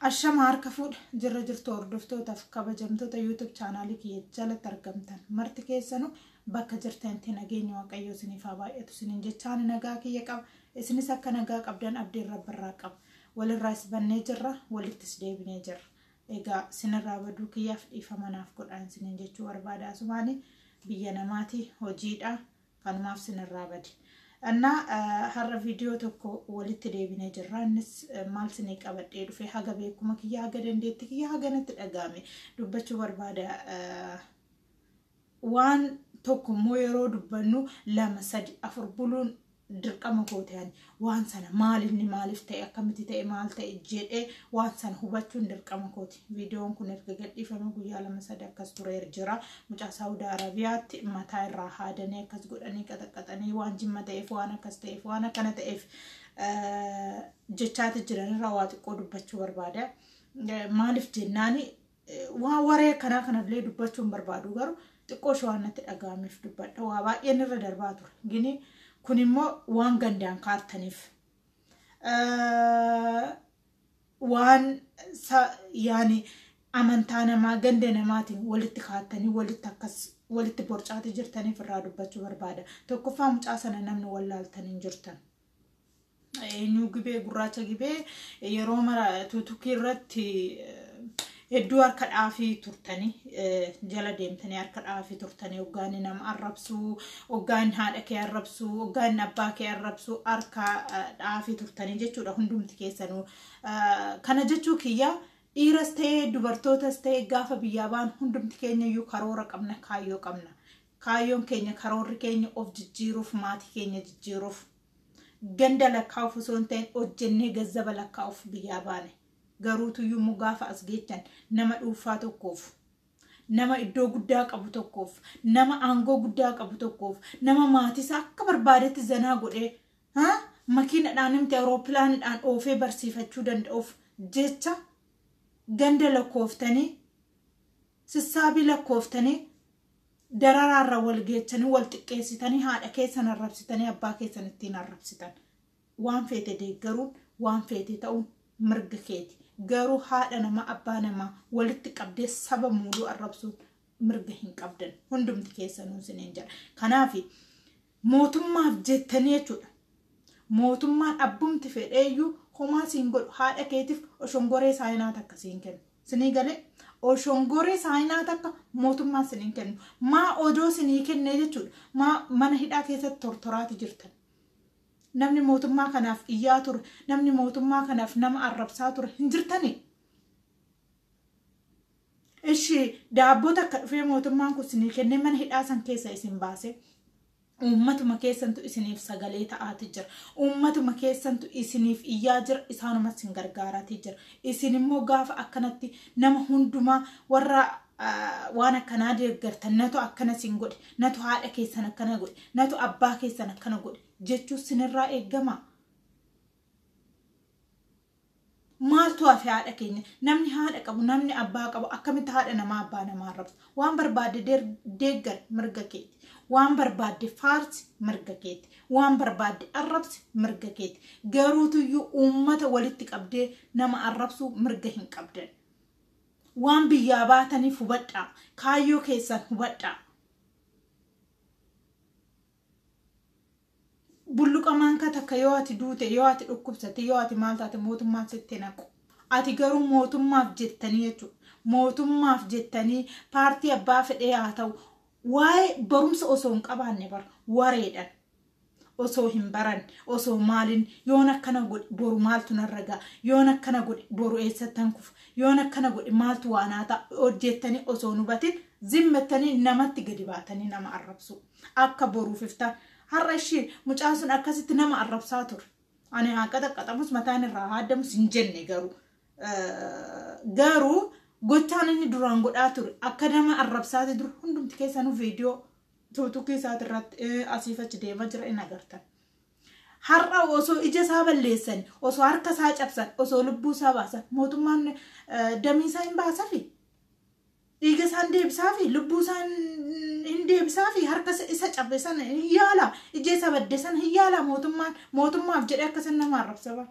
Ashama harka fuudha jirra jirtu hordoftootaaf kabajamtoota YouTube chaanaalii kiyya jalatti argamtan marti keessanuu bakka jirtanitti nageenya waaqayyoo isiniif haa baay'atu isiniin jechaan nagaa kiyya qaba isinis akka nagaa qabdan abdiin rabbarraa qaba walirraa is bannee jirra walittis deebinee jirra egaa sinirraa baduu kiyyaaf dhiifama naaf godhaan isiniin jechuu barbaada asumaanii biyya namaatii hojiidha Kanumaaf sinirraa bade. Annaa har'a viidiyoo tokko walitti deebinee jirra. Innis maal sinii qabadhee dhufe haga beekuma kiyya haga dandeetti kiyya haga natti dhaga'ame dubbachuu barbaada. Waan tokko immoo yeroo dubbannu lama sadi afur buluun dirqama kooti ani. waan sana maal inni maaliif ta'e akkamitti ta'e maal ta'e jedhee waan sana hubachuun dirqama kooti. Viidiyoon kun erga gadhiifame guyyaa lama sadii akkas tureer jira. Mucaa Saawudi Arabiyaatti mataa irraa haadanii akkas godhanii qaxaqqaxanii waan jimma ta'eef waan akkas ta'eef waan akkana ta'eef jechaati jiranirraa waa xiqqoo dubbachuu barbaada. Maaliif jennaani Waan waree akkanaa kanallee dubbachuu hin barbaadu garuu xiqqoo ishee waan natti dhaga'ameef dubbadha. Waa baay'een irra darbaa ture. Gini kun immoo waan gandaan kaartaniif. Waan yaani amantaa namaa ganda namaatiin walitti kaartanii walitti akkas walitti borcaatee jirtaniif irraa dubbachuu barbaada. Tokkoffaa mucaa sana namni wallaaltan hin jirtan. Eenyuu gibee gurraacha gibee yeroo mara tuutukii irratti hedduu harka dhaafii turtanii jala deemtanii harka dhaafii turtanii hoggaan nama arrabsuu hoggaan haadha kee arrabsuu hoggaan abbaa kee arrabsuu harka dhaafii turtanii jechuudha hundumti keessanuu kana jechuu kiyyaa dhiiras ta'ee dubartootas ta'ee gaafa biyyaa baan hundumti keenya iyyuu karoora qabna kaayyoo qabna Kaayyoon keenya karoorri keenya of jijjiiruuf maatii keenya jijjiiruuf ganda lakkaa'uuf osoo hin ta'in hojjennee gazzaba lakkaa'uuf biyyaa baane. Garuutu yommuu gaafa as geechan nama dhuunfaa tokkoof nama iddoo guddaa qabu tokkoof nama aangoo guddaa qabu tokkoof nama maatiisaa akka barbaadetti zanaa godhee haa makiinadhaan himte awuroopilaanidhaan oofee barsiifachuu danda'uuf jecha ganda lakkooftanii Sissaabii lakkooftanii dararaarra wal geechanii wal xiqqeessitanii haadha keessan arrabsitanii abbaa keessan ittiin arrabsitan. Waan feete deeggaruun waan feete ta'uun mirga keeti. Garuu haadha namaa abbaa namaa walitti qabdee saba muuduu arrabsuun mirga hin qabdan. Hundumti keessanuu isiniin jedha. Kanaafi Mootummaaf jettanii jechuudha. Mootummaan abbumti fedheeyyuu homaa siin godhu haadha keetiif oshongoree saayinaa takka siin kennu. Sinii galee oshongoree saayinaa takka mootummaan siniin kennu. Maa odoo sinii kennee jechuudha. Maa mana hidhaa keessatti tortoraati jirtan. Namni mootummaa kanaaf iyyaa ture, namni mootummaa kanaaf nama arrabsaa ture hin jirtanii. Ishi daabboo takka dhufee mootummaan kun isinii kennee mana hidhaa san keessa isin baasee uummatuma keessantu isiniif sagalee ta'aati jira. Uummatuma keessantu isiniif iyyaa jira isaanuma isin gargaaraati jira. Isin immoo gaafa akkanatti nama hundumaa warra waan akkanaa deeggartan natu akkana isin godhe natu haadha keessan akkana godhe natu abbaa keessan akkana godhe jechuu sinirraa eegama. Maaltu hafe haadha keenya? Namni haadha qabu, namni abbaa qabu akkamitti haadha namaa abbaa namaa arrabsa? Waan barbaadde der- deeggar mirga keeti. Waan barbaadde faarsi mirga keeti. Waan barbaadde arrabsi mirga keeti. Garuutuyyuu uummata walitti qabdee nama arrabsuu mirga hin qabdan. Waan biyyaa baataniif hubadhaa. Kaayyoo keessan hubadhaa. Bulluqa maankaa takka yoo ati duute, yoo ati dhukkubsatte, yoo ati maal taate mootummaan sitti hin haqu. Ati garuu mootummaaf jettanii jechuudha. Mootummaaf jettanii paartii abbaa fedhee haa ta'u waa'ee barumsa osoo hin qabaanne bara wareedhan. osoo hin baran osoo maalin yoon akkana godhe boru maaltu narra ga'a yoon akkana godhe boru eessattan kufa yoon akkana godhe maaltu waanaa ta'a hojjettanii osoo hin hubatin zimmettanii namatti gadi baatanii nama arrabsuu. Akka boruuf iftaan. Har'a ishii mucaan sun akkasitti nama arrabsaa ture. Ani haa qaxaqqaxamus mataan irraa haa addamus hin jenne garuu. Garuu gochaan inni duraan godhaa ture akka nama arrabsaati dur hundumti keessanuu viidiyoo tuutukii isaati irratti asiif achi deemaa jira in agartan. Har'a osoo ija isaa balleessan, osoo harka isaa cabsan, osoo lubbuu isaa baasan mootummaan damee isaa hin baasafi. Dhiiga isaa hin deebisaafi, lubbuu isaa hin- hin deebisaafi, harka isa- isa cabe sana hin yaala, ija isa badde sana hin yaala mootummaan mootummaaf jedhee akka isin nama arrabsa bara.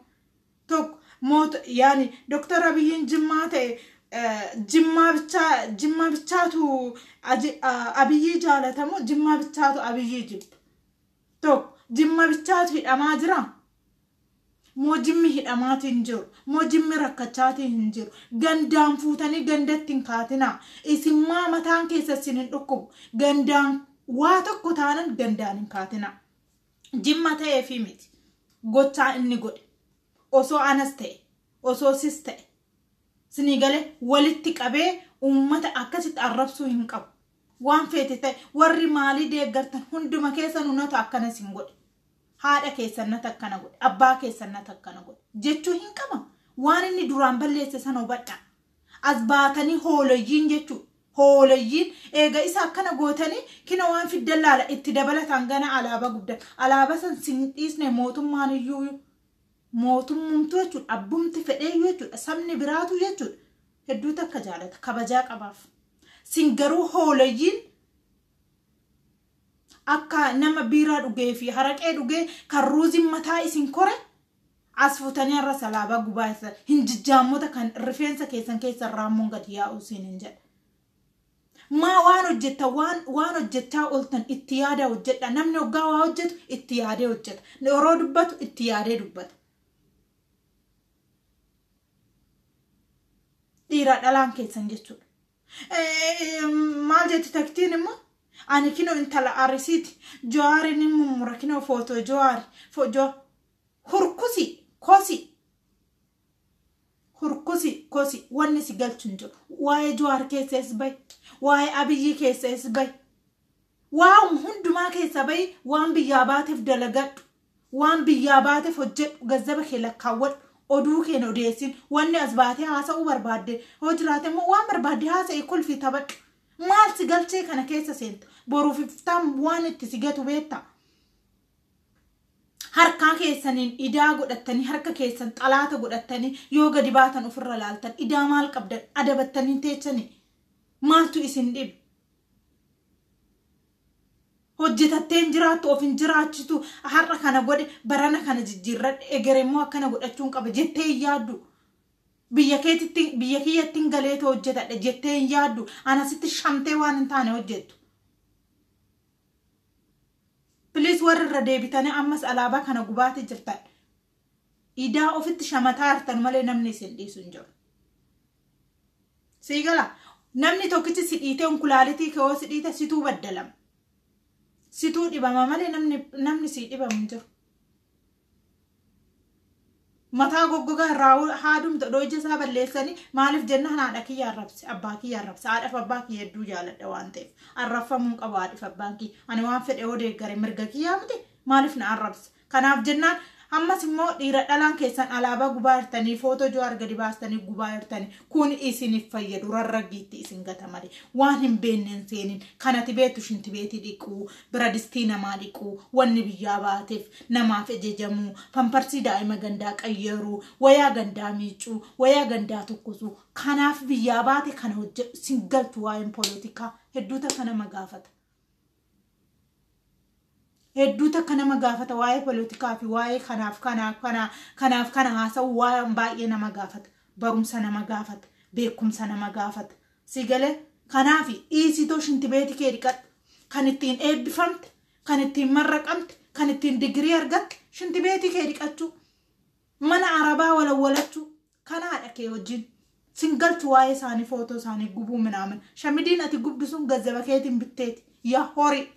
tokko moot yaani doktar abiyyiin jimmaa ta'e eh, jimmaa bichaa jimmaa bichaatu aji- a- abiyyii jaalatamu jimmaa bichaatu abiyyii jibba tokko jimmaa bichaatu hidhamaa jira Moojimmi hidhamaati hin jiru. Mojimmi rakkachaati hin jiru. Gandaan fuutanii gandatti hin kaatinaa. Isin maa mataan keessa isin hin dhukkubu. Gandaan waa tokko taanan gandaan hin kaatinaa. Jimma ta'ee fi miti. Gochaa inni godhe. Osoo anas ta'e. Osoo sis ta'e. Sinii galee walitti qabee uummata akkasitti arrabsuu hin qabu. Waan feete ta'e warri maalii deeggartan hunduma keessanu natu akkana isin godhe. Haadha keessan nata akkana godhe. Abbaa keessan nata akkana godhe. Jechuu hin qaba. Waan inni duraan balleesse sana hubadhaa. As baatanii hoolayyiin jechuu. Hoolayyiin eega isa akkana gootanii kina waan fiddan laala itti dabalataan gana alaabaa guddan. Alaabaa san sin dhiisne mootummaan iyyuu mootummumtuu jechuudha abbumti fedheeyyuu jechuudha sabni biraatuu jechuudha hedduu takka jaalata kabajaa qabaaf sin garuu hooleyyiin akka nama biiraa dhugee fi haraqee dhugee kan ruuziin mataa isin kore as futanii har'a salaabaa gubaa isa hin jijjaammota kan rifeensa keessan keessa raammoon gadi yaa'u siin hin jedha Maa waan hojjettan waan waan hojjechaa ooltan itti yaadaa hojjedha. Namni oggaa waa hojjetu itti yaadee hojjeta. Yeroo dubbatu itti yaadee dubbata. Dhiiraa dhalaan keessan jechuudha. Maal jetti taktiin immoo ani kinoo intala arisiiti jawaari ni mummura kinoo footoo jawaari foojoo hurkusi kosi Hurkusi kosi wanni si galchu hin jiru. Waa'ee Jawaar keessa is bahi. Waa'ee Abiyyii keessa is bahi. Waan hundumaa keessa bahi waan biyyaa baateef dalagadhu. Waan biyyaa baateef hojjedhu gazzaba kee lakkaawwadhu. Oduu keen odeessin wanni as baatee haasa'uu barbaadde yoo jiraate immoo waan barbaadde haasa'i kolfi taphadhu. Maal si galchee kana keessa seenta? Boruuf iftaan waan itti si gatu beektaa? harkaa keessaniin idaa godhattanii harka keessan xalaata godhattanii yoo gadi baatan ofirra laaltan idaa maal qabdan adabattanii teechanii maaltu isin dhibe hojjetatteen jiraattu of hin jiraachitu har'a kana godhe barana kana jijjiirradhe egere immoo akkana godhachuun qaba jettee hin yaaddu biyya keetitti biyya kiyyatti hin galeetu hojjetadha jettee hin yaaddu anasitti shamtee waan hin taane hojjettu Please warri irra deebitanii ammas alaabaa kana gubaati jirtan. Idaa ofitti shamataa jirtan malee namni isin dhiisu hin jiru. Sii gala namni tokkichi si dhiitee onkulaalitii kee hoo si dhiite situu baddalama. Situu dhibama malee namni namni sii dhibamu hin jiru. mataa goggogaa irraa haadumta odoo ija isaa balleessanii maaliif jennaan haadha kiyya arrabse abbaa kiyya arrabse haadhaaf abbaa kiyya hedduu jaaladha waan ta'eef arrabfamuun qabu haadhaaf abbaan kiyya ani waan fedhe yoo deeggare mirga kiyyaa miti maaliif na arrabse kanaaf jennaan ammas immoo dhiira dhalaan keessan alaabaa gubaa jirtanii footoo jawaar gadi baastanii gubaa jirtanii kun isiniif fayyadu rarraggiitti isin gata malee waan hin beenneen seenin kanati beetu shinti beetii dhiquu biradistii namaa dhiquu, wanni biyyaa baateef namaaf ejejamuu, pamparsii daa'ima gandaa qayyaruu, wayaa gandaa miicuu, wayaa gandaa tokkosuu, kanaaf biyyaa baate kana hojjedhu sin galtu waa'een polotikaa hedduu takka nama gaafata. hedduu takka nama gaafata waa'ee polotikaa fi waa'ee kanaaf kanaaf kana kanaaf kana haasa'u waan baay'ee nama gaafata barumsa nama gaafata beekumsa nama gaafata Sii galee? Kanaafi dhiisiitoo shintibeeti kee dhiqadhu. Kan ittiin eebbifamte, kan ittiin marraqamte, kan ittiin digirii argatte shintibeetii kee dhiqachuu. Mana arabaa walawwalachuu. Kanaadha kee wajjin. Sin galchu waa'ee isaanii footoo isaanii gubuu minaamin. Shamidiin ati gubdu sun gazzaba keetiin bitteeti. Yaa horii.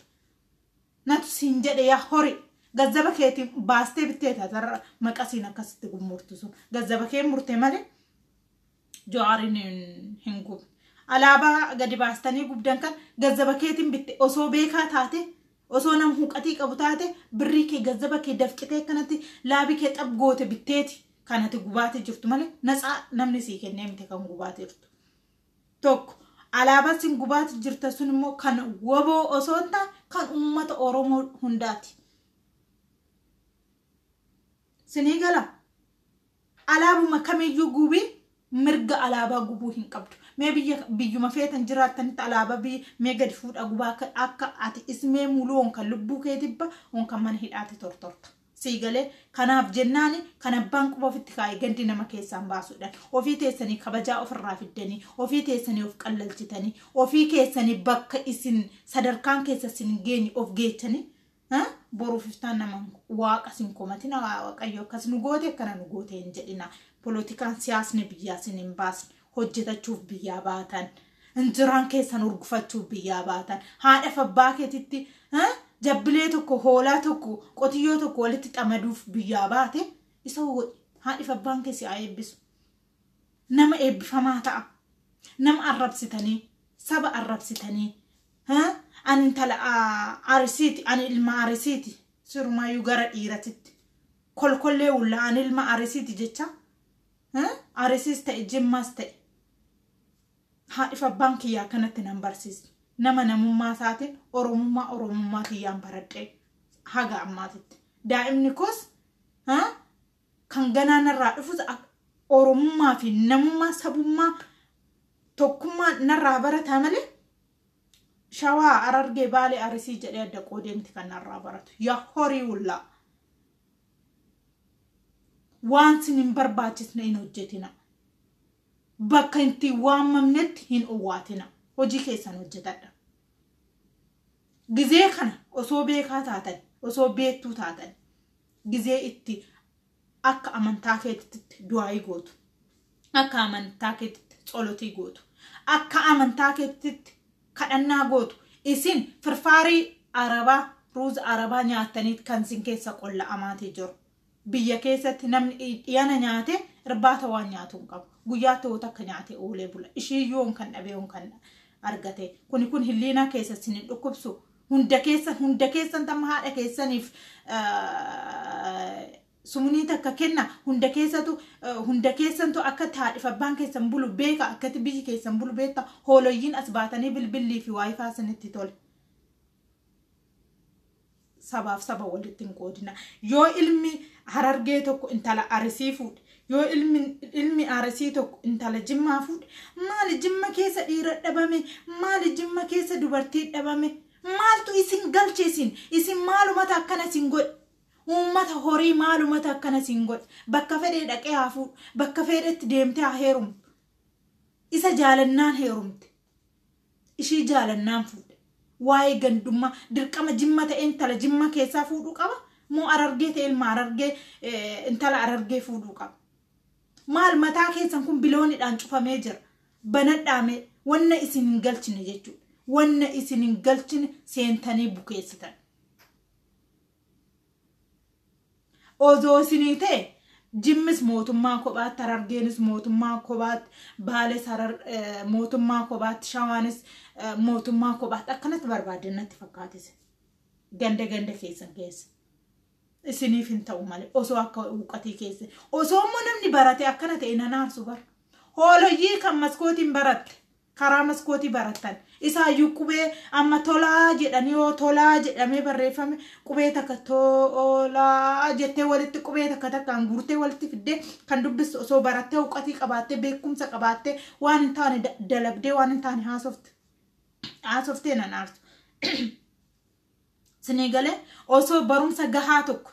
Natu siin jedhe yaa horii. Gazzaba keetiin baastee bitteeti atarra maqasiin akkasitti gurmurtu sun. Gazzaba kee murte malee Jawaariin hin gubne. Alaabaa gadi baastanii gubdan kan gazzaba keetiin bitte osoo beekaa taate osoo nam huqatii qabu taate birrii kee gazzaba kee dafqitee akkanatti laabii kee xab goote bitteeti kan ati gubaatee jirtu malee natsaa namni sii kennee miti kan gubaatee jirtu. Tokko alaabaa sin gubaatee jirta sun immoo kan waboo osoo hin taane kan uummata Oromoo hundaati. Sinii gala? Alaabuma kamiyyuu gubii mirga alaabaa gubuu hin qabdu. Mee biyya biyyuma feetan jiraattanitti alaabaa biyya mee gadi fuudhaa gubaa akka akka ati ismee muluu on kan lubbuu kee dibba on kan mana hidhaatti tortorta. Sii galee kanaaf jennaani kan abbaan quba ofitti kaa'e gandi nama keessaan baasuudhaan ofii teessanii kabajaa ofirraa fiddanii ofii teessanii of qallalchitanii ofii keessanii bakka isin sadarkaan keessa isin geenye of geechanii boruuf iftaan nama waaqa sin komatina waaqayyo akkas nu goote akkana nu goote hin jedhina polotikaan siyaasni biyyaa sin hin baasne hojjetachuuf biyyaa baatan injiraan keessan urgufachuuf biyyaa baatan haadhaaf abbaa keetitti jabbilee tokko hoolaa tokko qotiyyoo tokko walitti xamaduuf biyyaa baate isa godhi haadhaaf abbaan keessi haa eebbisu nama eebbifamaa ta'a nama arrabsitanii saba arrabsitanii Haa? Ani intala a, Arisiiti, ani ilma Arisiiti. Sirumaayyuu gara dhiiratitti. Kolkollee wulla ani ilma Arisiiti jecha. Haa? Arisiis ta'e Jimmaas ta'e. Haadhif abbaan kiyya akkanatti nan barsiisne. Nama namummaa isaatiin Oromummaa Oromummaa kiyyaan baradhee haga ammaatitti. Daa'imni koos haa? kan ganaa narraa dhufus ak Oromummaa fi namummaa sabummaa tokkummaa narraa barataa malee Shawaa, Harargee, Baalee, Arisii jedhee adda qoodee miti kan narraa baratu. Ya horii wullaa. Waan sin hin barbaachisne hin hojjetina. Bakka itti hin waamamnetti hin owwaatina. Hojii keessan hojjetadha. Gizee kana osoo beekaa taatan, osoo beektuu taatan, gizee itti akka amantaa keetitti du'aayii gootu akka amantaa keetitti tsolotii gootu akka amantaa keetitti kadhannaa gootu isin firfaarii arabaa ruuza arabaa nyaattaniit kan isin keessa qolla'amaatii jiru biyya keessatti namni dhiyana nyaate irbaata waan nyaatu hin qabu guyyaatti wota akka nyaate oolee bula ishii yoon kan dhabee yoon kan argate kuni kun hilliinaa keessa isin hin dhukkubsu hunda keessan hunda keessan tamma haadha keessaniif sumunii takka kenna hunda keessatu hunda keessantu akka haadhif abbaan keessan bulu beeka akkati biyyi keessan bulu beekta hoololyiin as baatanii bilbillii fi waayifaa sinitti tole. sabaaf saba walitti hin qoodina yoo ilmi harargee tokko intala arisii fuudhe Yoo ilmi ilmi Arsii tokko intala Jimmaa fuudhe maali Jimma keessa dhiira dhabame maali Jimma keessa dubartii dhabame maaltu isin galche isin isin maalumata akkana isin godhe uummata horii maalumata akkana isin godhe bakka fedhee dhaqee haa fuudhu bakka fedhetti deemtee haa heerumtu isa jaalannaan heerumte ishii jaalannaan fuudhe waa'ee gandummaa dirqama jimma ta'e intala jimma keessaa fuudhuu qaba moo arargee ta'e ilma arargee eh, intala arargee fuudhuu qaba maal mataa keessan kun biloonidhaan cufamee jira banadhaamee wanna isin hin galchine jechuudha wanna isin hin galchine seentanii bukeessitan Ozoo isinii ta'e Jimmis mootummaa kophaatti, Harargeenis mootummaa kophaatti, Baales harar mootummaa kophaatti, Shawaanis mootummaa kophaatti akkanatti barbaaddan natti fakkaatise. Ganda ganda keessan keessa. Isiniif hin ta'u malee osoo akka huuqatii keessa. Osoo immoo namni barate akkana ta'e nan aarsu bara. Hooloyyii kan maskootiin baratte. karaa maskootii barattan isaayyuu qubee amma tolaa jedhanii yoo tolaa jedhamee barreeffame qubee takka tolaa jettee walitti qubee takka takkaan guurtee walitti fiddee kan dubbistu osoo barattee huqqatii qabaattee beekumsa qabaattee waan hin taane da- dalagdee waan hin taane haasofte haasoftee nan aartu sinii galee osoo barumsa gahaa tokko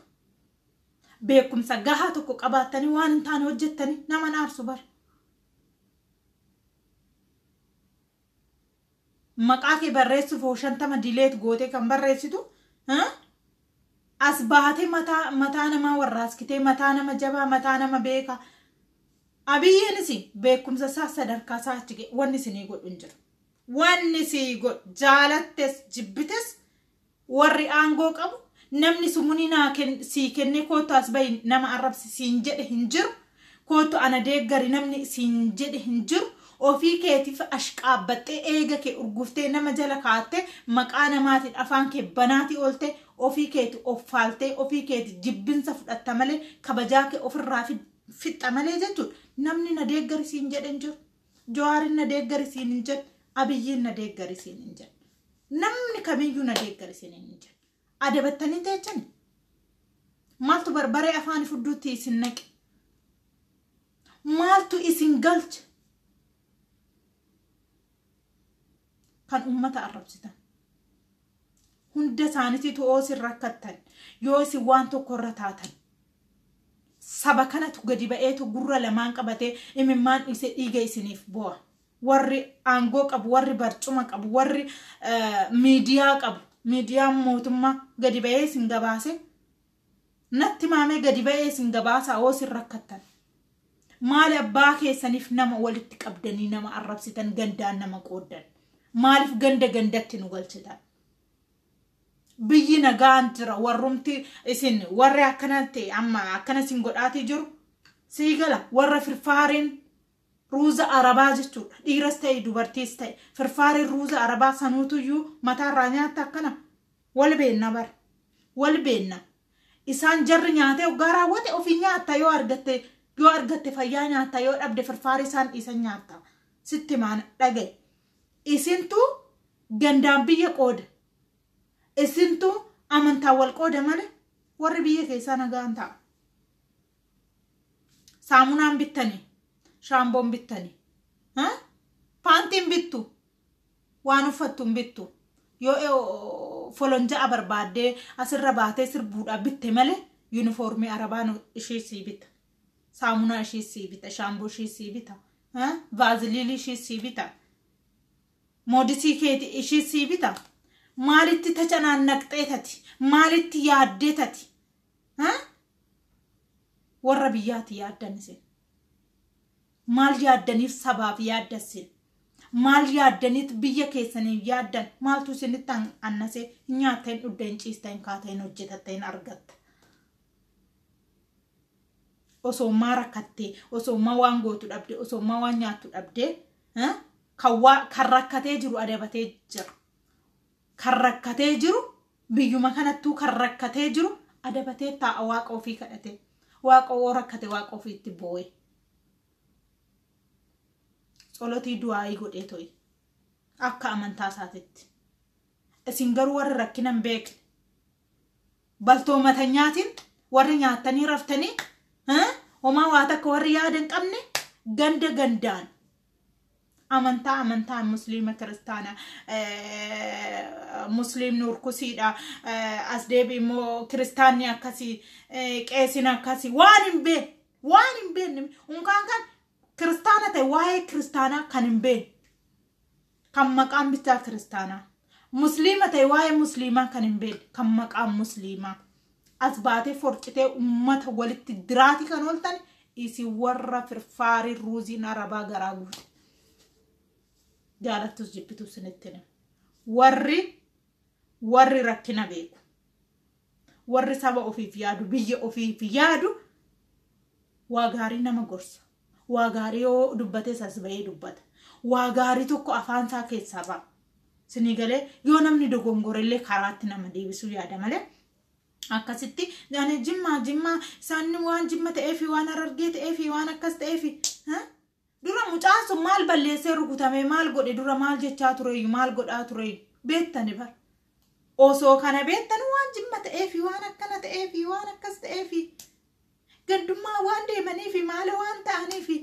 beekumsa gahaa tokko qabaattanii waan hin taane hojjettanii nama hin aarsu bara maqaa kee barreessuuf hoo shantama dileet gootee kan barreessitu as baatee mataa mataa namaa warraaskitee mataa nama jabaa mataa nama beekaa abiyyiinis beekumsa isaa sadarkaa isaa achi ga'e wanni isinii godhu hin jiru wanni sii godhu jaalattes jibbites Warri aangoo qabu namni sumunii naa sii kennee koottu as bahi nama arrabsi siin jedhe hin jiru. Koottu ana deeggari namni siin jedhe hin jiru. Ofii keetiif ashqaabbaxxee eega kee urguftee nama jala kaattee maqaa namaatiin afaan kee banaatii ooltee ofii keeti of faaltee ofii keeti jibbinsa fudhatta malee kabajaa kee ofirraa fixxa malee jechuudha. Namni na deeggari siin jedhe hin jiru. Jawaarin na deeggari siin hin jedhe. Abiyyiin na deeggari siin hin jedhe. Namni kamiyyuu na deeggari siin hin jedhe. Adabattanii teechani. Maaltu barbaree afaan fudduutti isin naqe? Maaltu isin galche? kan ummata arrabsitan hunda isaanitiitu yoo isin rakkattan yoo isin waan tokko irra taatan saba kanatu gadi ba'eetu gurra lamaan qabatee imimmaan dhiisee dhiiga isiniif bu'a warri aangoo qabu warri barcuma qabu warri miidiyaa qabu miidiyaan mootummaa gadi ba'ee isin gabaase Natti himaa mee gadi ba'ee isin gabaasaa hoo isin rakkattan. Maali abbaa keessaniif nama walitti qabdanii nama arrabsitan gandaan nama qooddan. Maaliif ganda gandatti nu galchitan. Biyyi nagaan jira warrumti isin warri akkanatti amma akkana isin godhaatii jiru. Sii gala warra firfaareen Ruuza arabaa jechuudha. Dhiiras ta'e dubartiis ta'e. Firfaariin ruuza arabaa sanuutuyyuu mataarraa nyaatta akkana. Wal beenna bar. Wal beenna. Isaan jarri nyaatee oggaa raawwate ofii nyaatta yoo argatte yoo argatte fayyaa nyaatta yoo dhabde firfaarii isaan dhiisan nyaatta. Sitti maan dhagaye. Isintu gandaan biyya qooda. Isintu amantaa wal qooda malee warri biyya keessaa nagaan ta'a. saamunaan bittani shaamboon bittani ha? paantiin bittu waan uffattu hin bittu yoo e- o- folonja'a barbaaddee asirra baatee sirbuudhaa bitte malee yuunifoormii arabaan ishii sii bita saamunaa ishii sii bita shaamboo ishii sii bita ha? vaaziliilii ishii sii bita moodisii keeti ishii sii bita maalitti tacanaannaqxee tati maalitti yaaddee tati warra biyyaati yaaddan isin maal yaaddaniif sabaaf yaadda isin maal yaaddaniit biyya keessaniif yaaddan maaltu isinitti annase hin nyaatta hin dhugda hin ciista hin kaata hin hojjetatta hin argatta osoo maa rakkattee osoo maa waan gootu dhabde osoo maa waan nyaattu dhabde kan rakkatee jiru adabatee jira Kan rakkatee jiru biyyuma kanattuu kan rakkatee jiru adabatee taa'a waaqa ofii kadhatee. Waaqa oo rakkate waaqa ofiitti boo'e. Tsolotii du'aayii godhee to'i. Akka amantaa isaatitti. Isin garuu warri rakkina hin beekne. Baltoomatanyaatiin warri nyaattanii raftanii homaa waa takka warri yaada hin qabne ganda gandaan amantaa amantaa musliima kiristaana musliimni urkusiidha as deebi immoo kiristaanni akkasii qeesin akkasii waan hin beekne waan hin beekne unkaan kan kiristaana ta'e waa'ee kiristaanaa kan hin beekne kan maqaan bichaa kiristaanaa musliima ta'e waa'ee musliimaa kan hin beekne kan maqaan musliimaa as baatee forcitee ummata walitti diraati kan ooltan isin warra firfaarii ruuziin arabaa garaa guute jaalattus jibbitus sinitti hima. warri warri rakkina beeku warri saba ofiif yaadu biyya ofiif yaadu waa gaarii nama gorsa Waa gaarii yoo dubbates as ba'ee dubbata. Waa gaarii tokko afaan isaa keessaa ba'a. Sinii galee yoo namni dogongorellee karaatti nama deebisuu yaada malee akkasitti ani jimmaa jimmaa isaan waan jimma ta'ee fi waan harargee ta'ee fi waan akkas ta'ee fi dura mucaan sun maal balleessee rukutamee maal godhe dura maal jechaa tureeyyu maal godhaa tureeyyu beettani bar osoo kana beettan waan jimma ta'ee fi waan akkana ta'ee fi waan akkas ta'ee fi Gandummaa waan deemaniifi maala waan ta'aniifi.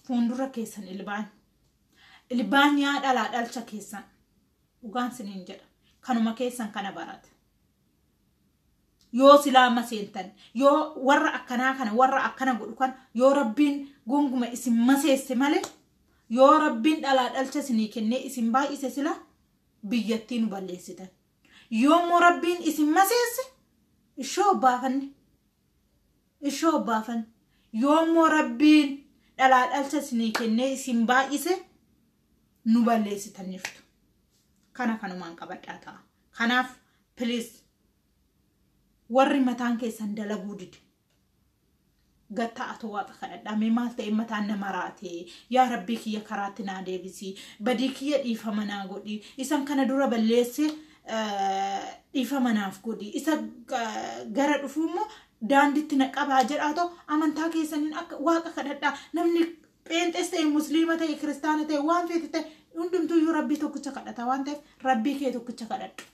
Fuundura keessan ilbaan. Ilbaan yaa dhalaa dhalcha keessan. Dhugaan siniin jedha. Kanuma keessan kana barata. Yoo silaa amma seentan, yoo warra akkanaa kana, warra akkana godhu kana, yoo rabbiin gonguma isin maseesse malee, yoo rabbiin dhalaa dhalcha isinii kennee isin baay'ise silaa biyyattii nu balleessitan. Yoommoo Rabbiin isin maseesse ishoo obbaafanne. Ishoo obbaafanne. Yoommoo Rabbiin dhalaa dhalcha isinii kennee isin baay'ise nu balleessitanniftu. Kana kanumaan qabadhaa ta'a. Kanaaf please warri mataan keessan dalaguu dide gattaa atoo waaqa kadhadhaa mee maal ta'e mataan na maraate yaa rabbii kiyya karaatti naa deebisi badii kiyya dhiifama naa godhi isan kana dura balleesse eh, dhiifama naaf godhi isa eh, gara dhufu immoo daanditti na qabaa jedhaa ta'u amantaa keessaniin akka waaqa kadhadhaa namni pheenxees ta'e musliima ta'e kiristaana ta'e waan feete ta'e hundumtuu iyyuu rabbii tokkicha kadhata waan ta'eef rabbii kee tokkicha kadhadhu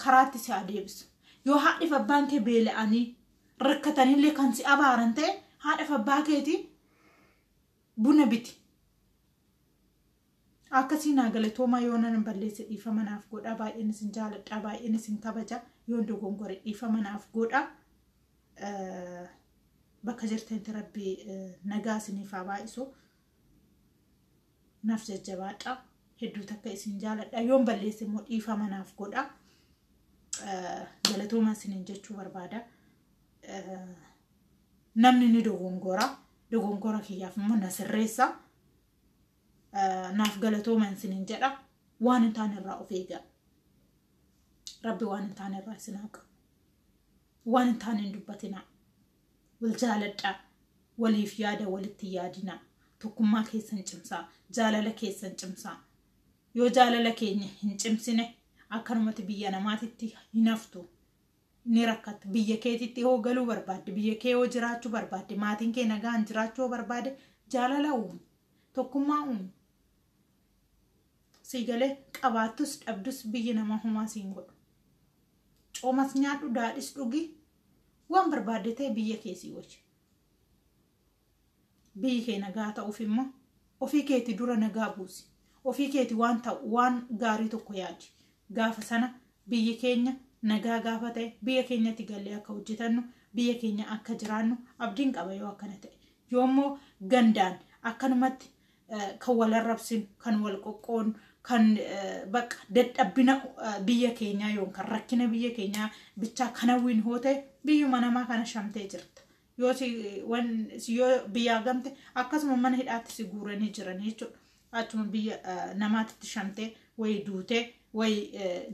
karaatti si haa deebisu. Yoo haadhiif abbaan kee beela'anii rakkatanillee kan si abaaran ta'e haadhaaf abbaa keetii buna biti. Akkasii naa galatoomaa yoo nan balleesse dhiifama naaf godhaa baay'een isin jaaladhaa baay'een isin kabaja yoon dogongore dhiifama naaf godhaa. Bakka jirtanitti rabbi nagaa isiniif haa baay'isu. naf jajjabaadha hedduu takka isin jaaladha yoon balleesse immoo dhiifama naaf godha galatooma isinin jechuu barbaada namni ni dogongora dogongora kiyyaaf immoo na sirreessa naaf galatooma isinin jedha waan hin taane irraa of eegaa rabbi waan hin taane irraa isin haqa waan hin taane hin dubbatinaa Wal jaaladhaa. Waliif yaada walitti hin yaadinaa. Tokkummaa keessan cimsaa. Jaalala keessan cimsaa. Yoo jaalala keenya hin cimsine akkanumatti biyya namaatitti hin haftu. Ni rakkatta. Biyya keetitti hoo galuu barbaadde, biyya kee hoo jiraachuu barbaadde, maatiin kee nagaan jiraachuu hoo barbaade jaalala uumi. Tokkummaa uumi. Sii galee qabaattus dhabdus biyyi namaa homaa siin godhu. Coomas nyaadhu, daadhis dhugi, Waan barbaadde ta'e biyya kee sii oolcha. Biyyi kee nagaa ta'uuf immoo ofii keeti dura nagaa buusi. Ofii keeti waan ta'u waan gaarii tokko yaadi. Gaafa sana biyyi keenya nagaa gaafa ta'e biyya keenyatti gallee akka hojjetannu biyya keenya akka jiraannu abdiin qaba yoo akkana ta'e. Yoommoo gandaan akkanumatti kan wal arrabsinu, kan wal qoqqoonu, kan bakka dadhabbina biyya keenyaa yookaan rakkina biyya keenyaa bichaa kan hawwiin hoo ta'e biyyuma namaa kana shamtee jirta. Yoo yoo biyyaa gamte akkasuma mana hidhaatti si guuranii jiran jechuudha. Achuma biyya namaatti shamtee wayi duutee wayi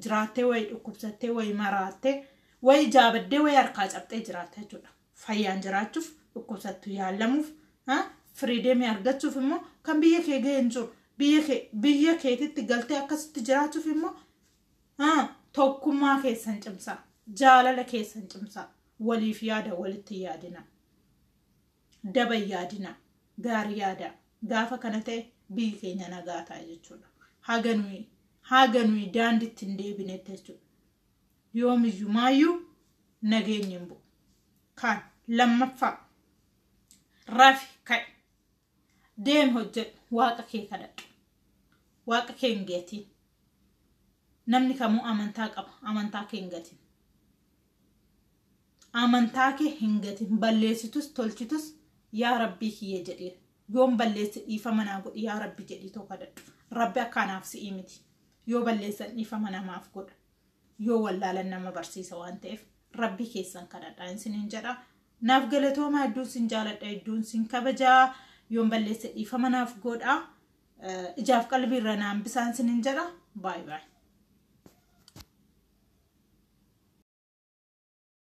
jiraattee wayi dhukkubsattee wayi maraattee wayi jaabaddee wayi harkaa cabxee jiraatta jechuudha. fayyaan jiraachuuf dhukkubsattu yaallamuuf firiideemii argachuuf immoo kan biyya kee ga'e hin jiru biyya kee biyya keetitti galtee akkasitti jiraachuuf immoo ah, tokkummaa keessan cimsaa jaalala keessan cimsaa waliif yaada walitti yaadina daba hin yaadina gaarii yaada gaafa kana ta'e biyyi keenya nagaa ta'a jechuudha haga nuyi haga nuyi daandiitti hin deebinetti jechuudha yoomiyyumaayyuu nageenyi hin bu'u. Kaan lammaffaa rafi ka'i deemi hojjedhu waaqa kee kadhadhu waaqa kee hin gatiin namni kamuu amantaa qaba amantaa kee hin gatiin amantaa kee hin gatiin balleessitus tolchitus yaa rabbii kiyya jedhee yoon balleesse dhiifama naa godhi yaa rabbi jedhii too kadhadhu rabbi akka anaaf si'ii miti yoo balleessan dhiifama namaaf godha yoo wallaalan nama barsiisa waan ta'eef rabbi keessan kadhadhaa isiniin jedha naaf galatoomaa hedduun sin jaaladha hedduun sin kabajaa yoon balleesse dhiifama naaf godha ijaaf qalbiirra naan bisaan isiniin jedha baay baay.